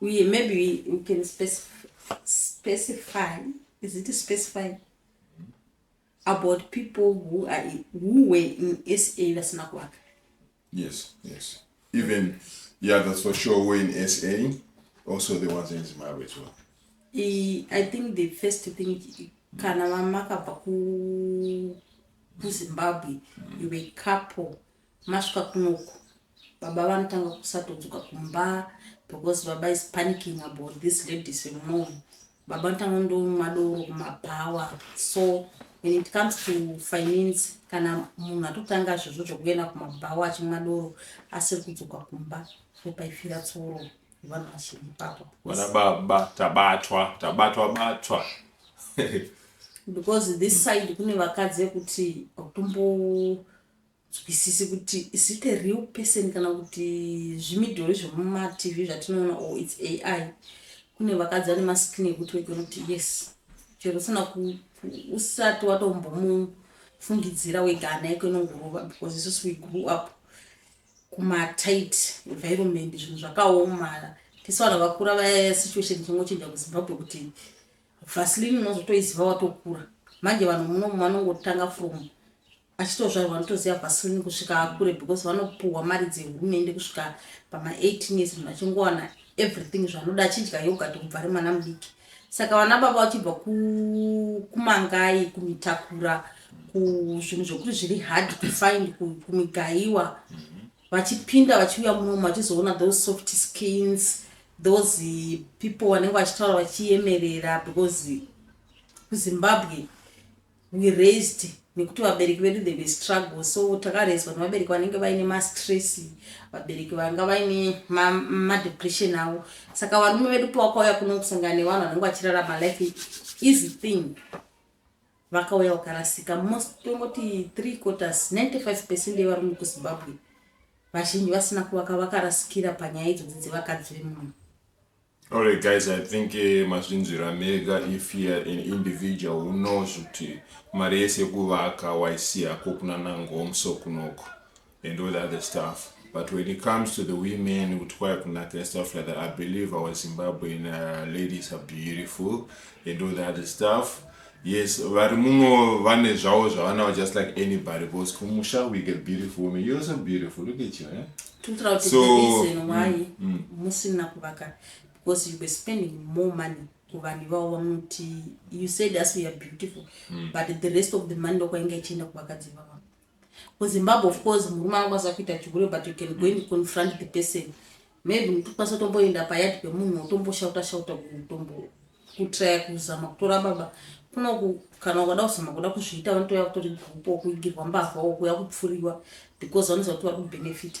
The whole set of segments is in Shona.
uye maybe we, we can specify, specify is it specify about people who are who were in sa vasina kuvaka yes yes even yeah that's for sure were in sa also the ones in zimbabwe as well I, i think the first thing kana vamakabva kuzimbabwe mm. you were couple Masvika kunoku baba vanotanga kusatodzoka kumba because baba is panicking about this ladies vemom baba vanotanga ndomwa doro kumabhawa so when it comes to finance kana munhu atotanga zvezvo zvekuenda kumabhawa achimwa doro asiri kudzoka kumba ndopaifira tsoro vanhu vashiri ipapo vana baba tabatwa tabatwa batwa because this side kune vakadzi vekuti utombo nzwisisi kuti is it a real person kana kuti zvimidhori zvemumatv zvatinoona or its ai kune vakadzi vane maskini ekuti wekona kuti yes chero usina usati watombomufungidzira wega hana yako inongorova because isusu we grew up kumatight environment zvinhu zvakaoma tese vanhu vakura vaya situation chingochinja kuzimbabwe kuti vasilini unozotoiziva watokura manje vanhu munomu vanongotanga from achitozvarwa anotoziva vasilin kusvika akure because vanopuhwa mari dzehurumende kusvika pama 18 years munhu achingowana everything zvaanoda achidya yogati kubva ari mwana mudiki saka vana baba vachibva kumangai kumitakura kuzvinhu zvokuti zviri hard to find kumigaiwa vachipinda vachiuya munomu vachizoona those soft skins those people vanenge vachitaura vachiyemerera because kuzimbabwe we raised nekuti vabereki vedu they were struggle so takarezwa nevabereki vanenge vaine mastress vabereki vanga vaine madepression ma avo saka varume vedu pawakauya kuno kusangana nevanhu vanenge vachirarama life easy thing vakauya vakarasika most tongoti three quarters 95 percent yevarume kuzimbabwe vazhinji vasina kuvaka vakarasikira panyaya idzodzi dzevakadzi vemunhu Alright guys, I think eh, mazvinzwira mega if you're an individual who knows kuti mari yese yekuvaka waisiya ko kuna nangomso kunoko and all the other stuff but when it comes to the women kuti kwaya kunaka and stuff like that i believe our zimbabwean uh, ladies are beautiful and all the other stuff Yes vari muno vane zvavo zvavanawo just like anybody because kumusha we get beautiful women you're also beautiful look at you eh? tinotaura kuti so, the reason mm, why mm, mm. musina kuvaka because you were spending more money kuvanhu ivavo vamuti you said us we are beautiful mm. but the rest of the money ndokwainge ichienda kuvakadzi ivavo Ku Zimbabwe of course murume angakwanisa kuita chigure but you can go and confront the person. Maybe mutokwanisa kutomboenda payard pemunhu wotomboshauta shauta kutombo kutraya kuzama kutora baba kunoku kana ukada kuzama kuda kuzviita vanotouya kutori gupo kuigirwa mbavha wo kuya kupfuriwa because vanoziva kuti vari kubenefita.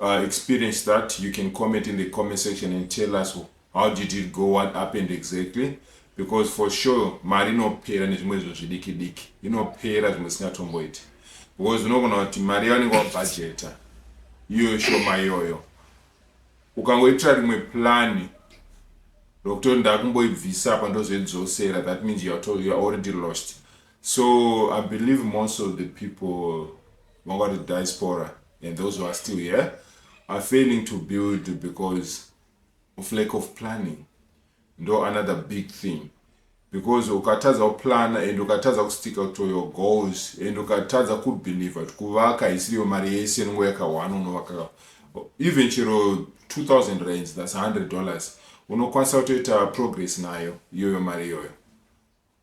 uh, experience that you can comment in the comment section and tell us how did it go what happened exactly because for sure mari inopera nezvimwe izvo zvidiki diki inopera zvimwe isingatomboiti because unogona kuti mari yavanenge wabhajeta iyoyo shoma iyoyo ukangoitira rimwe plani rokuti ndakumboibvisa apa ndozoidzosera that means youare already lost So I believe most of the people about the diaspora and those who are still here are failing to build because of lack of planning. No another big thing. Because ukatadza kuplan and ukatadza kusticka to your goals and ukatadza kubelieve kuti kuvaka isiriyo mari yese inongo yakahwana unovaka even chero 2000 rands thats 100 dollars unokwanisa kutoita progress nayo iyoyo mari iyoyo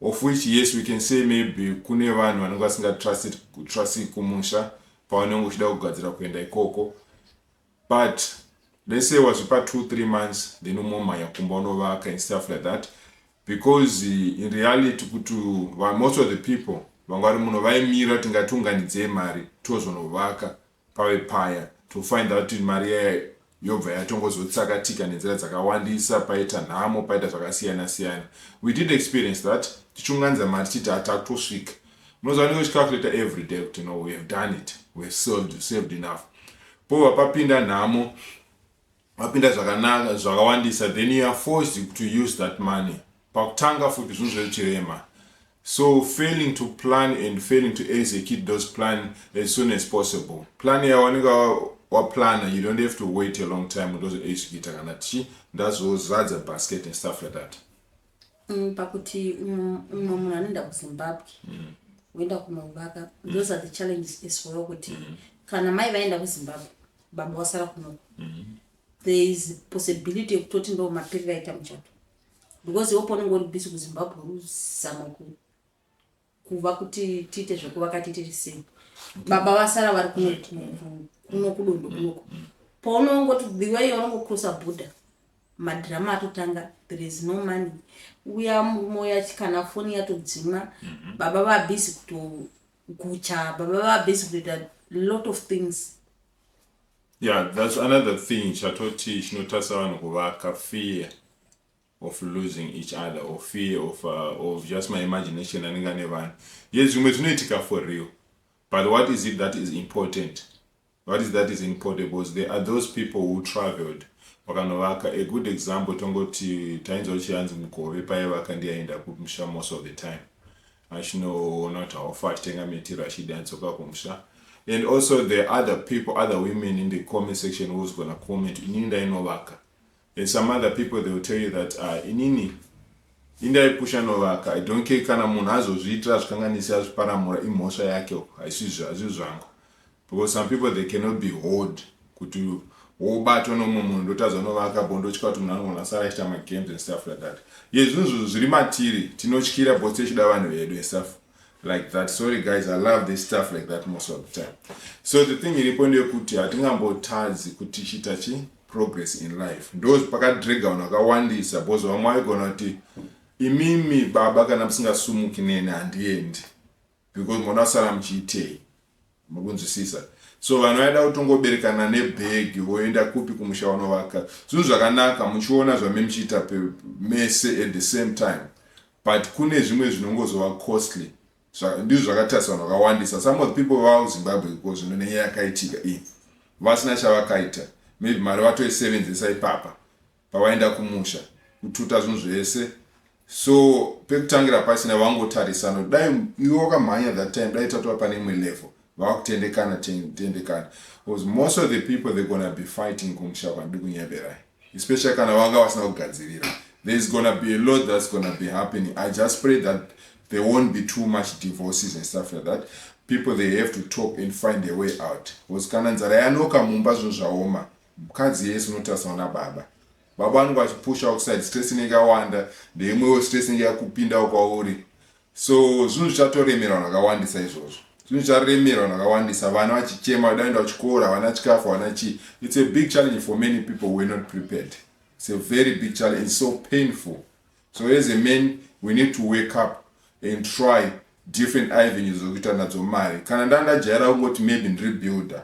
Of which yes we can say maybe kune vanhu vanenge vasinga trust trust kumusha pavanenge uchida kugadzira kuenda ikoko but let's say wazvipa 2 3 months then umomhanya kumba unovaka and stuff like that because in reality kuti most of the people vanga vari muno vaimira tingati unganidzei mari tozonovaka Pave paya, to find out kuti mari iya yobva yatongozotsakatika nenzira dzakawandisa, paita nhamo, paita zvakasiyana siyana. We did experience that, tichiunganidza mari tichiti ah takutosvika. Munoziva unenge uchicalculator everyday kuti no we have done it, we have saved, saved enough. Pobva papinda nhamo, Mapinda zvakanaka zvakawandisa then you are forced to use that money pakutanga futi zvinhu zvechirema so failing to plan and failing to execute those plan as soon as possible plan yawanenge waplana you don't have to wait a long time ndozoexecuta kana tichi ndazozadza basket and stuff like that Mm, pakuti umwe munhu anoenda kuzimbabwe mm. woenda kunovaka those are the challenges as well kuti mm. kana mai vaenda kuzimbabwe baba wasara kunoko there is possibility yekutoti ndo mapiri vaita muchato because iwo paunenge uri bisi kuzimbabwe uzama ku kuva kuti tiite zvekuvaka titiri sei baba vasara vari kuno kudondo kunoko paunongoti biwa iyo vanongokrosa bhodha madhirama atotanga there is no money uya murume uya kana foni yatodzimwa mhm. baba vabhizi kutogucha baba vabhizi kutoita lot of things yeah that's another thing chatoti chinotarisa vanhu kuvaka fear of losing each other or fear of, uh, of just my imagination anenge ane vanhu ye zvimwe zvinoitika for real but what is it that is important what is that is important because there are those people who traveled vakanovaka a good example tongoti tainzwa kuti yanzi mugove paye vaka ndiyaenda kumusha most of the time achinoona kuti haufa achitenga mitiro achidi anzoka kumusha and also the other people other women in the comment section who's gonna comment inini ndainovaka And some other people they will tell you that ah, inini indaipusha novaka i don't care kana munhu azozviitira azvikanganisi azviparamura imhosva yake haisizvo hazvii zvangu because some people they cannot be hold kuti wobatwa nomwe munhu ndotadza novaka bo ndotya kuti munhu anogona sara achiita magames and stuff like that ye zvinhu zvinhu zviri matiri tinotyira bo tichida vanhu vedu and stuff like that sorry guys i love this stuff like that most of the time so the thing iripo ndeyekuti hatingambotadzi kuti chiita chii progress in life ndoz pakadrega vanhu vakawandisa bcoz vamwe vaigona kuti imimi baba kana musingasumuki neni handiendi because moda kusara muchiitei muri kunzwisisa so vanhu vaida kutongoberekana nebhegi voenda kupi kumusha wanovaka zvinhu zvakanaka muchiona zvame muchiita mese at the same time but kune zvimwe zvinongozova costly Zva, ndizvo zvakatasa vanhu vakawandisa some of the people vavo zimbabwe iko zvino nenyaya yakaitika iyi vasina chavakaita maybe mari vatoisevenzesa ipapa pavaenda kumusha kututa zvinhu zvese so pekutangira pasina vangotarisano dai iwe wakamhanya that time dai tatova pane imwe level vakutendekana tendekana bcause most of the people they're gonna be fighting kumusha kwandikunyeberayi especially kana vanga vasina kugadzirira there is gonna be a lot that's gonna be happening i just pray that there won't be too much divorces and stuff like that people they have to talk and find a way out because kana nzara yanoka mumba zvinhu zvaoma mukadzi yese unotarisana nababa baba vanenge vachipusha kuside stress inenge yawanda ndeimwewo stress inenge yakupindawo kwauri So zvinhu zvichatoremerwa zvakawandisa izvozvo. Zvinhu zvicharemerwa zvakawandisa vana vachichema vachida kuenda kuchikoro havana chikafu havana chii. It's a big challenge for many people who were not prepared. It's a very big challenge. It's so painful. So as a man we need to wake up and try different avenues zokuita nadzo mari. Kana ndandajaira kungoti maybe ndiri builder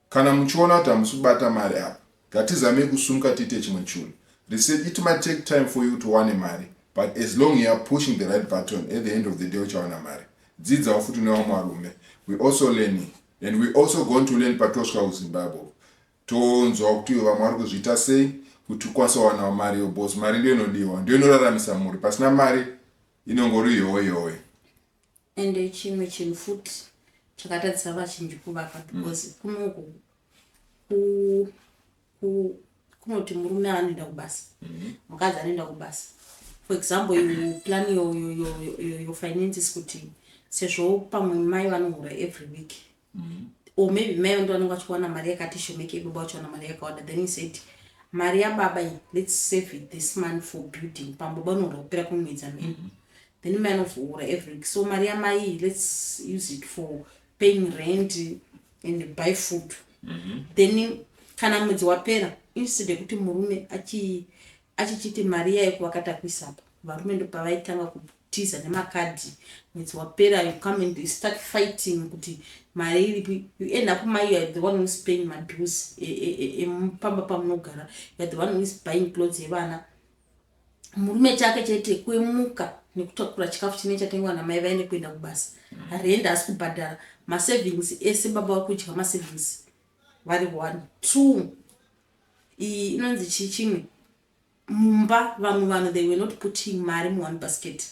Kana muchiona kuti hamusi kubata mari apa ngatizamei kusumuka tiite chimwe chunhu. Research it might take time for you kuti uwane mari but as long you're pushing the right button at the end of the day uchawana mari. Dzidzawo futi nevamwe varume. We also learning and we also going to learn patosvika kuZimbabwe uko. Tonzwawo kuti ivo vamwe vari kuzviita sei kuti ukwanise kuwanawo mari yo boss. Mari ndiyo inodiwa, ndiyo inoraramisa mhuri. Pasina mari inongori yowe yowe. Ende chimwe chinhu futi chakatadzisa vazhinji kuvaka because mm. kunoku kunoti murume anoenda kubasa mm-hmm. mukadzi anoenda kubasa for example you plan your, your, your, your, your finances kuti sezvo pamwe mai vanohura every week or maybe mai vange vanenge vachiwana mari yakati shomekei baba vachiwana mari yakawanda then he said mari yababa iyi let's save it this money for building pambo banoda kupera kumwedza mheno mm-hmm. then mai anozoura every week so mari yamai iyi let's use it for paying rent and buy food mm-hmm. then kana mwedzi wapera instead yekuti murume achichiti mari yayo kuvakatakuisapa varume ndopavaitanga tiza nemakadhi mwedzi wapera you come and you start fighting kuti mari iripi you end up mai you are the one whois paying mabills emupamba e, e, e, pamunogara you are the one whois buying clothes evana murume chake chete kwemuka nekutakura chikafu chine chatengwa namai vaine kuenda kubasa harendi asi kubhadhara masavings ese baba vari kudya masavings vari one two iyi inonzi chii chimwe Mumba vamwe vanhu they were not putting mari mu one basket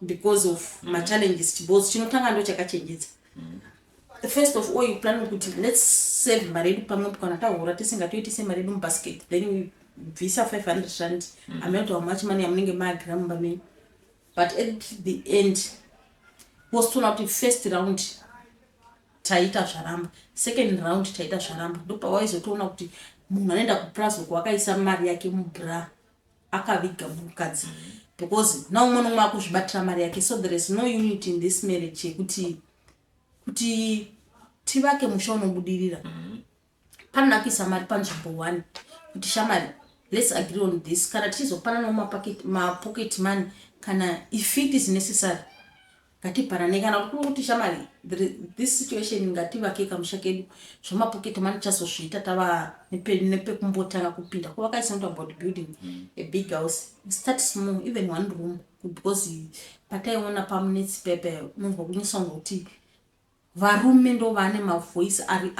because of ma challenges chibhozi chinotanga ndo chakachenjedza the first of all you plan kuti let's save mari yedu pamwe kana tahura tisingatoitise mari yedu mubasket then we bvisa 500 rand mm. amount how much money amunenge maagira mumba menyu but at the end wositoona kuti first round taita zvaramba second round taita zvaramba ndopawaizotoona kuti munhu anoenda kupraz uko akaisa mari yake mubra akaviga mukadzi because naumwe nomwe akuzvibatira mari yake so there is no unity in this marriage yekuti kuti tivake musha unobudirira mm -hmm. Panonakisa mari panzvimbo one kuti shamari let's agree on this kana tichizopananawo mapocket money kana if it is necessary ngatipanane kana kuti kuri kuti shamari this situation ngativake kamusha kedu zvemapocket money tichazozviita tava nepekumbotanga kupinda kuvakaisa not about building mm. a big house start small even one room because pataiona pamunetsi pepe munhu wakunyisa kunge kuti Varume ndovane mavoice ari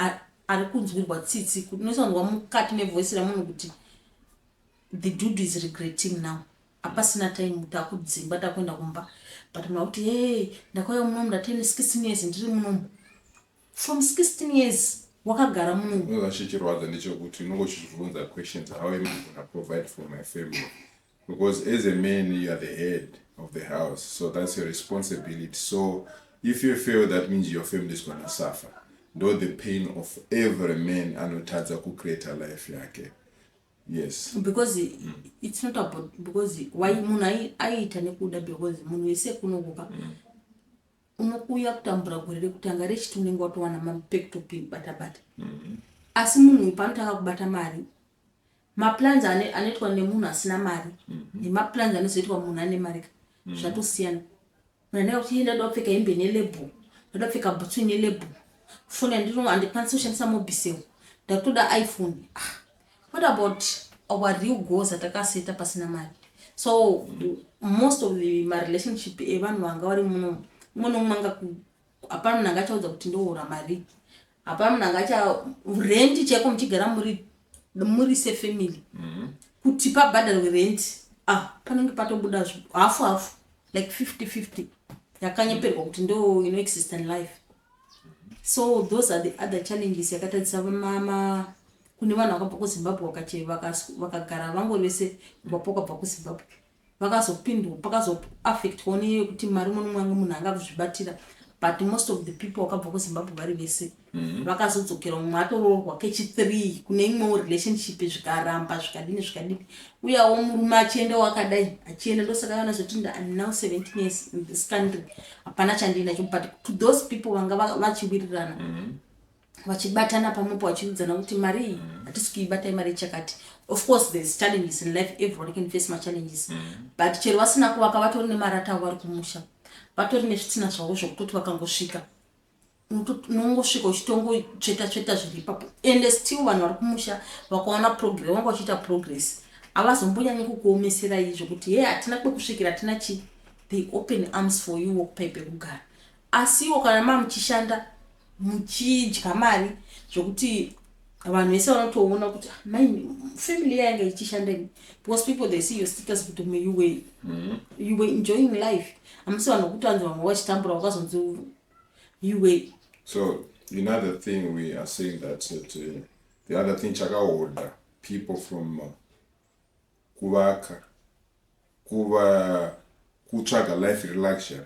ari kunzwirwa tsitsi kuti unosanzwa mukati mevoice remunhu kuti the dude is regretting now apasina time kuti akudzimba takuenda kumba but mna kuti hey ndakauya munomu ndatene 16 years ndiri munomu from 16 years wakagara munomu chichirwadza ndechekuti unongochizvibvunza questions how am i gonna provide for my family Because as a man you are the head of the house so that's your responsibility so if you fail that means your family is gonna suffer ndo the pain of every man anotadza kucreata life yake yes because mm. it's not about because why munhu aiita nekuda because munhu wese kunokuka mm. unokuuya kutambura gore rekutanga rechiti unenge watowana mapektopi batabata mm. asi munhu uyu paanotanga kubata mari Maplans ane anoitwa nemunhu asina mari nemaplans anozoitwa munhu ane mari ka zvatosiyana. Munhu anenge kuti iye ndinoda kupfeka hembe ine label, ndinoda kupfeka bhutsu ine label, foni yandino handikwanisi kushandisa mobisel, ndakutoda iPhone. Ah, what about our real goals atakaseta pasina mari? So most of the marelationship evanhu vanga vari muno, umwe noumwe angaku hapana munhu angachaudza kuti ndoora mari hapana munhu angacha rendi chaiko muchigara muri muri sefamily mm-hmm. kuti pabhadharwe rendi ah panenge patobuda hafu hafu like 50 50 yakanyeperwa kuti ndo ino exist in life so those are the other challenges yakatadzisa mama kune vanhu vakabva kuzimbabwe vakagara vangori vese kubva pakabva kuzimbabwe vakazopindwa pakazo affectwa neyekuti mari umwe nomumwe munhu anga kuzvibatira but most of the people vakabva kuzimbabwe vari vese mhm. vakazodzokera mm -hmm. umwe atoroorwa kechithree kune imwewo relationship zvikaramba zvikadini zvikadini uyawo murume achienda wakadai achienda ndosaka vanazoti im now 17 years in this country hapana chandiinacho but to those people vanga vachiwirirana mm -hmm. vachibatana pamwepo vachiudzana kuti mari iyi mm. hatisi kuibata imari ichakati of course thereis challenges in life everyone can face machallenges mm. but chero vasina kuvaka vatori nemarata avo vari kumusha vatori nezvitina zvavo zvokutoti vakangosvika unongosvika uchitongotsveta tsveta zviri ipapo ende still vanhu vari kumusha vakaona progress vanga vachiita progress havazombonyanyi kukuomeserai zvekuti he hatina kwekusvikira hatina chi the open arms for you wokupai pekugara Asiwo kana mamuchishanda muchidya mari zvekuti vanhu vese vanotoona kuti ah, mai family yayanga ichishanda ini because people they see your status kuti me you were mm. you were enjoying life amisi vanhu vokuti vanzi vamwe vachitambura vakazonzi you were so another thing we are saying that that uh, the other thing chakahodha people from uh, kuvaka kuva kutsvaga life reluxury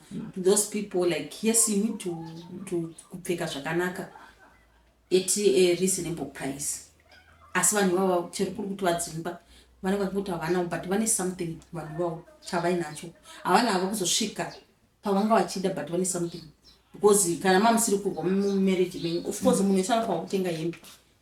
those people like yes you need to, to kupfeka zvakanaka at a reasonable price asi vanhu ivavo chero kuri kuti vadzimba vanenge vachikuti havanawo but vane something vanhu ivavo chavainacho havana hava kuzosvika pavanga vachida but vane something because kana mamusiri kurwa mumarriage menyu of course munhu esana kwakutenga hembe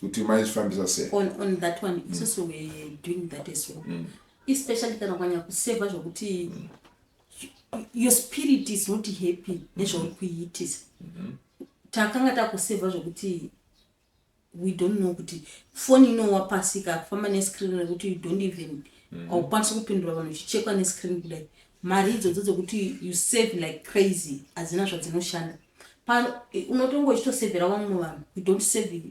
kuti maizvifambisa sei on, on that one mm. isusu mm. we doing that as well mm. especially kana ukanyanya kuseva zvokuti mm. your spirit is not happy mm-hmm. nezvauri kuiitisa mm -hmm. takanga takuseva zvokuti we don't know kuti foni inowa pasi kakufamba nescreen rekuti you don't even mm-hmm. haukwanisi mm -hmm. kupindura vanhu uchichekwa nescreen kudai Mari idzodzo dzekuti you save like crazy hadzina zvadzinoshanda. Pano unotonga uchitosevhera vamwe vanhu, you don't save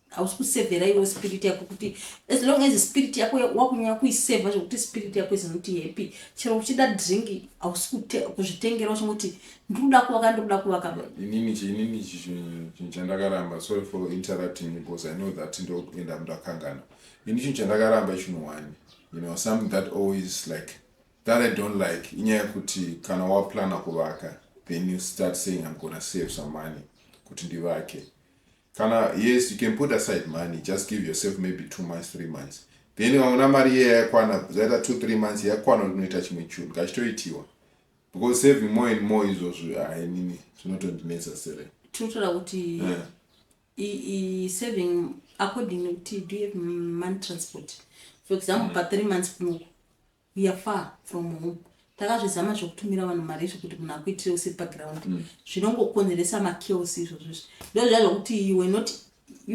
hausi kusevhera iwe spirit yako kuti as long as spirit yako wakunyanya kuisevha zvekuti spirit yako izinoti happy chero uchida drink hausi kuzvitengera uchingoti ndikuda kuvaka ndikuda kuvaka inini chiinini chinhu chandakaramba sorry for interrupting because i know that ndokuenda mndakangana ini chinhu chandakaramba chinhu one you know something that always like That I don't like inyaya yekuti kana waplana kuvaka then you start saying I'm gonna save some money kuti ndivake kana yes you can put aside money just give yourself maybe two months three months then waona mari iye yakwana zaita two three months yakwana unoita chimwe chunhu kachitoitiwa because saving more and more izvozvo hainini zvinotondinetsa sere tinotora kuti eh. saving according nekuti do you have money transport for example mm. pathree months kunoku We are far from home takazvizama zvekutumira vanhu mari izvo kuti munhu akuitire usiri paground mm. zvinongokonzeresa machaos izvozvo izvo ndozviya zvokuti you were not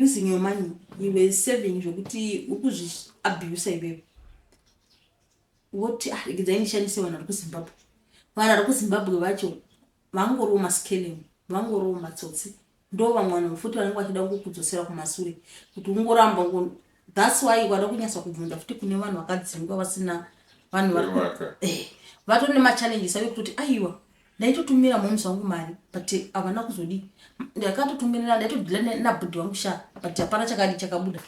using your money you were saving zvokuti uri kuzviabusa iwewe woti ah, regedzai ndishandise vanhu vari kuzimbabwe vanhu vari kuzimbabwe vacho vangoriwo maskelem vangoriwo matsotsi Ndo vamwe vanhu futi vanenge vachida kukudzosera kumasure kuti ungoramba ngo thats why wada kunyasa kubvunza futi kune vanhu vakadzingwa vasina vanhu vari Vaka. eh, vatone machallenges ave kutoti aiwa ndaitotumira moms vangu mari but havana kuzodii ndakatotumirira ndaitodhila ne- nabhudhi vangu sha but hapana chakadi chakabuda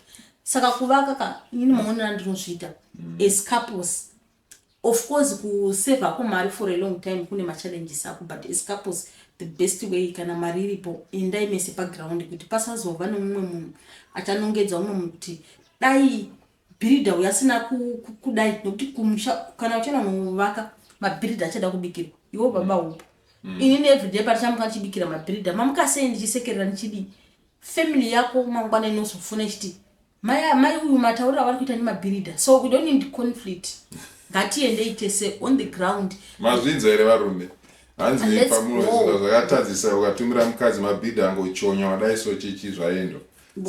saka kuvaka ka ini maonera ndinozviita as couples Of course kusave hako mari for a long time kune machallenges ako but as couples the best way kana mari iripo endai mese paground kuti pasazova nemumwe munhu achanongedza umwe munhu kuti dai bhiridha uyo asina kudai nokuti kumusha kana uchiona novaka mabhiridha achada kubikirwa iwo baba mm. upo mm. ini neevriday patichamuka ndichibikira mabhiridha mamukasei ndichisekerera ndichidii family yako mangwana inozofuna ichiti Mai amai uyu mataurira vari kuita nemabhirida so we don't need conflict ngatiendei tese on the ground mazvinza here varume hanzi pamunoziva zvakatadzisa ukatumira mukadzi mabhidha angochonya wadai so chichi zvaendo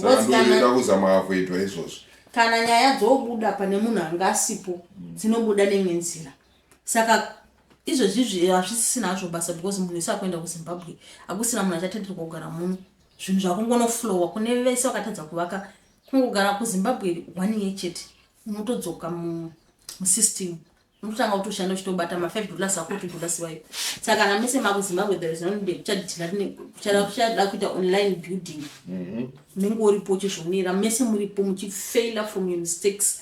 saka ndoenda kuzama avoidwa izvozvo kana nyaya dzobuda pane munhu anga asipo mm. dzinobuda neimwe nzira saka izvozvi hazvisisina hazvo basa because munhu isi akuenda kuzimbabwe hakusina munhu achatenderwa kugara muno zvinhu zvakungonoflowa kune vese vakatadza kuvaka kungogara kuzimbabwe one year chete unotodzoka musystem unototanga kutoshanda uchitobata mafive dollars ako utotodasiwayo saka kana mese makuzimbabwe theresuchada kuita online building mhm. unenge uripo uchizvionera mese muripo muchifaila from your mistakes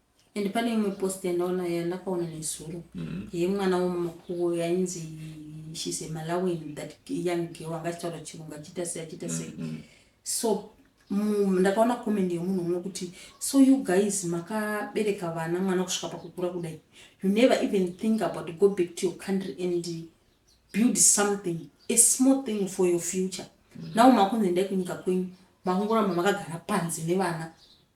and pane imwe post yandaona yandakaona nezuro mm-hmm. yemwana wemakuwo yainzi shes a malawian that young girl anga achitaura chirungu achiita sei achiita sei mm-hmm. so ndakaona comment yemunhu umwe kuti so you guys makabereka vana mwana kusvika pakukura kudai you never even think about go back to your country and build something a small thing for your future mm-hmm. now makunzi endai kunyika kwenyu makungoramba makagara panze nevana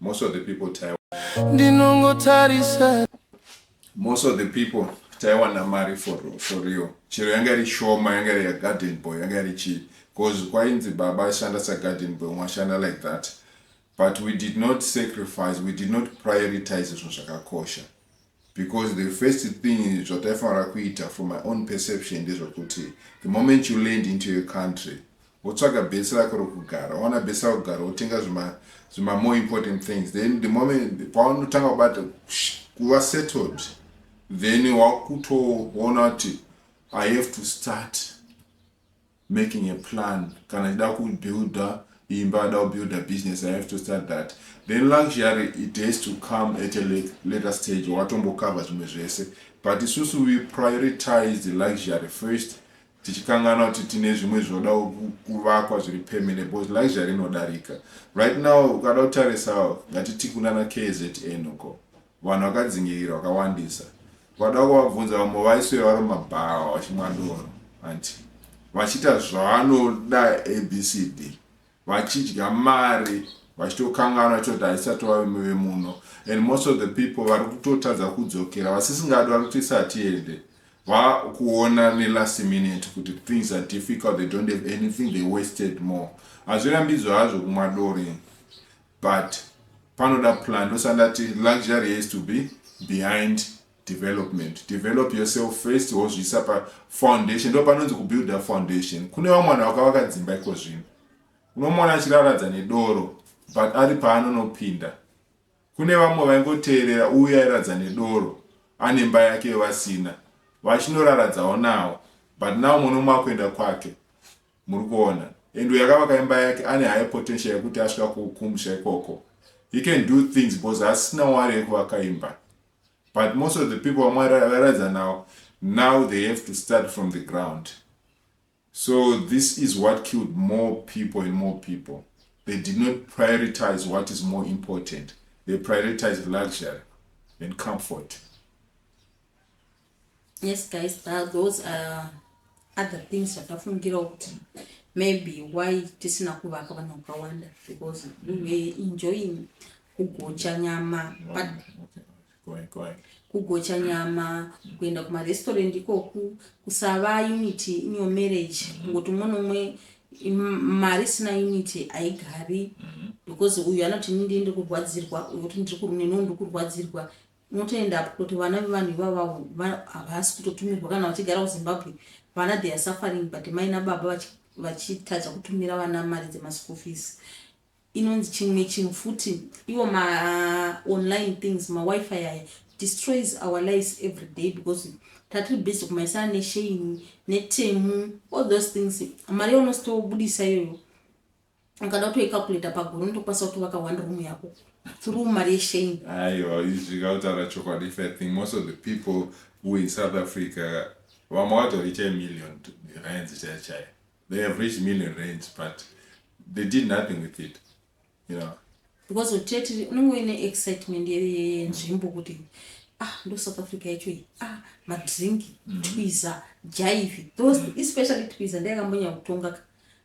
Most of the people taiwa ndinongotarisa most of the people taiwana mari for, for real chero yanga iri shoma yanga iri yagarden boy yanga iri chii bcause kwainzi baba ashanda sagarden boy umwe ashanda like that but we did not sacrifice we did not prioritize zvinhu zvakakosha because the first thing zvataifanira kuita from my own perception ndezvokuti the moment you land into your country wotsvaga bhesi rako rokugara waona bhesi rako kugara wotenga zvima more important things then the moment paunotanga kubata kuva settled then wakutoona kuti i have to start making a plan kana achida kubuilder imba ada kubuilder business i have to start that then luxury it has to come at a later stage watombocover zvimwe zvese but isusu we prioritize the luxury first tichikanganwa kuti tine zvimwe zvinoda kuvakwa zviri permanent because luxury inodarika right now ukada kutarisa ngatiti kunana kzn uko Vanhu vakadzingirira vakawandisa vada kuvabvunza vamwe vaiswera vari mumabhawa vachimwa doro hanti vachiita zvavanoda abcd vachidya mari vachitokanganwa choti haisati vavemo vemuno and most of the people vari kutotadza kudzokera vasisingadi vari kutoisa hatiende vakuona nelast minute kuti things are difficult they don't have anything they wasted more hazvirambidzwa hazvo kumwa dori but panoda plan ndosa ndati luxury has to be behind development develop yourself first wozviisa pa foundation ndo panonzi kubuilda foundation kune vamwe vanhu vakavaka dzimba iko zvino unomona achiraradza nedoro but ari paanonopinda kune vamwe vaingoteerera uye airadza nedoro ane mba yake yevasina vachinoraradzawo nawo but now muno mwakuenda kwake Muri kuona? And uyu akavaka imba yake ane higher potential yekuti asvika ku, kumusha ikoko. He can do things because asina wari yekuvaka imba. But most of the people vaMwari varadza now, now they have to start from the ground. So this is what killed more people and more people. They did not prioritize what is more important. They prioritized luxury and comfort. yes guys uh, those are other things zvatafungirawo kuti maybe why tisina kuvaka vanhu vakawanda because we were enjoying kugocha nyama but kugocha nyama kuenda kumarestaurant ikoku kusava unity in your marriage kungoti umwe nomwe mari isina unity haigari mm-hmm. because uyu anoti ini ndii ndiri kurwadzirwa uyu kuti ndiri kurunenoo ndiri kurwadzirwa Unotoenda apo kuti vana vevanhu ivava havasi kutotumirwa kana vachigara kuzimbabwe vana they are suffering but mai nababa vachitadza kutumira vana mari dzemaschool fees inonzi chimwe chinhu futi iwo maonline things mawifi aya destroys our lives every day because tatiri busy kumaisana nesheini netemu all those things mari yaunozitobudisa iyoyo ukada kutoicalculator pagore unotokwanisa kutovaka one room yako through mari yeshame aiwa izvika kutaura chokwadi if i think most of the people who in south africa vamwe vatoricha million rands chaiyo chaiyo they have reached million rands but they did nothing with it you know because uteti unenge uine excitement yenzvimbo kuti ah ndo south africa yacho iyi ah madrink mm-hmm. twiza jaivi those mm-hmm. especially twiza ndeyakambonyanya kutongaka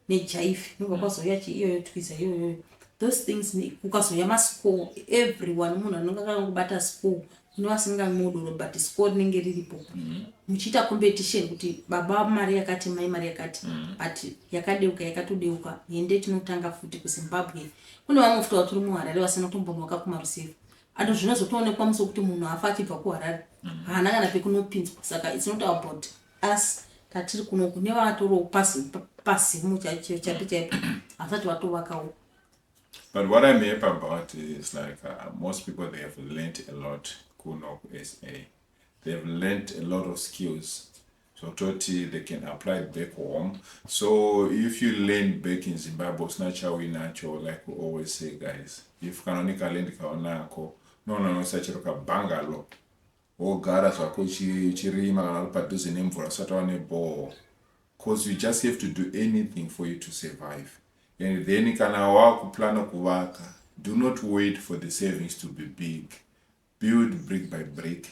nejaifi nobva kwazouya chi iyoyo twiza iyoyoyo those things kukazouya maschool everyone munhu anonga akangobata school kune vasingamodoro but school rinenge riripo mm-hmm. muchiita competition kuti baba mari yakati mai mari yakati mm-hmm. but yakadeuka yakatodeuka hende tinotanga futi kuzimbabwe kune vamwe futi vatiri muharare vasina kutombonwaka kumaruseva ano zvinozotoonekwa musi wekuti munhu afa achibva kuharare mm-hmm. haana kana pekunopinzwa saka its not about Asi patiri kuno kune vatoriwo pasi pasimu chaicho chapi chaipo havasati vatovakawo But what I'm happy about is like uh, most people they have learnt a lot kuno kuSA. They have learnt a lot of skills. So toti they can apply it back home. So if you learn back in Zimbabwe, it's not how we natural, like we always say, guys. If kanonika learn kaonako, no, no, no, such a bangalo. Wogara zvako uchi uchirima kana uri padhuze nemvura usati wava nebhoo coz you just have to do anything for you to survive and then kana wava kuplana kuvaka do not wait for the savings to be big build brick by brick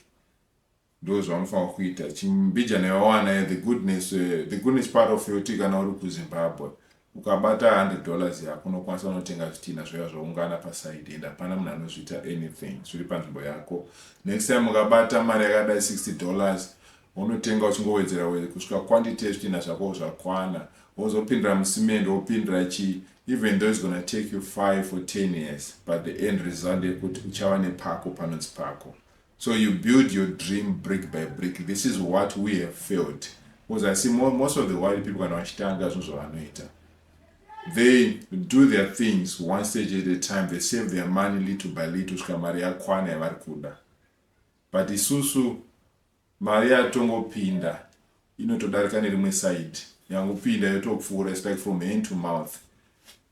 ndo zvaunofanira kuita chimbijana yawana the goodness eh, the goodness part of yoti kana uri kuzimbabwe Ukabata 100 dollars yako unokwanisa kunotenga zvitinha zvoya zvoungana paside and hapana munhu anozviita anything zviri panzvimbo yako. Next time ukabata mari yakadai 60 dollars wonotenga uchingowedzera wedzera kusvika quantity yezvitinha zvako zvakwana wozopindira musimende wopindira chii even though it's gonna take you 5 or 10 years but the end result yekuti uchava nepako panonzi pako. So you build your dream brick by brick this is what we have failed because I see more, most of the world people kana vachitanga zvinhu zvavanoita they do their things one stage at a time they save their money little by little svika mari yakwana yavari kuda but isusu mari yatongopinda inotodarika nerimwe side yangopinda yotopfuura its like from hand to mouth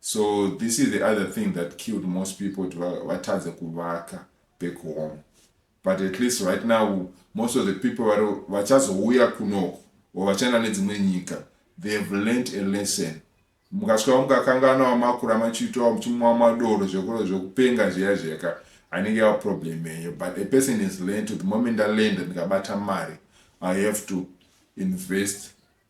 So this is the other thing that killed most people kuti vatadze kuvaka back home but at least right now most of the people vari vachazouya kunoko or vachaenda nedzimwe nyika they have learnt a lesson mukasvika mukakangana wamakura machiitawo muchimwa madoro zvekuro zvekupenga zviya zveka anenge yava problem yenyu but a person is learnt the moment alenda ndikabata mari i have to invest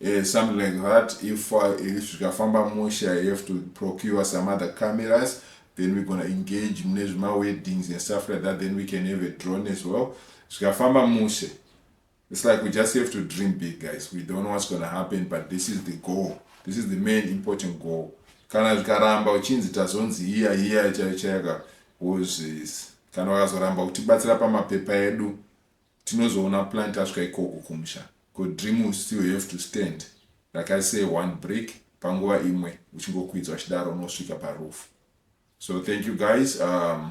Yeah, something like that. If uh, if zvikafamba mushe, I have to procure some other cameras. Then we're gonna engage mune zvima weddings and stuff like that. Then we can have a drone as well. Zvikafamba mushe. It's like we just have to dream big, guys. We don't know what's gonna happen, but this is the goal. This is the main important goal. Kana zvikaramba uchinzi tazonzi hiya hiya chaichayaka wozvisi. Kana wakazoramba kutibatsira pamapepa edu. Tinozoona plan tasvika ikoko kumusha ko dream will still have to stand rakaita se one brick panguva imwe uchingokwidzwa chidaro unosvika pa roof so thank you guys um,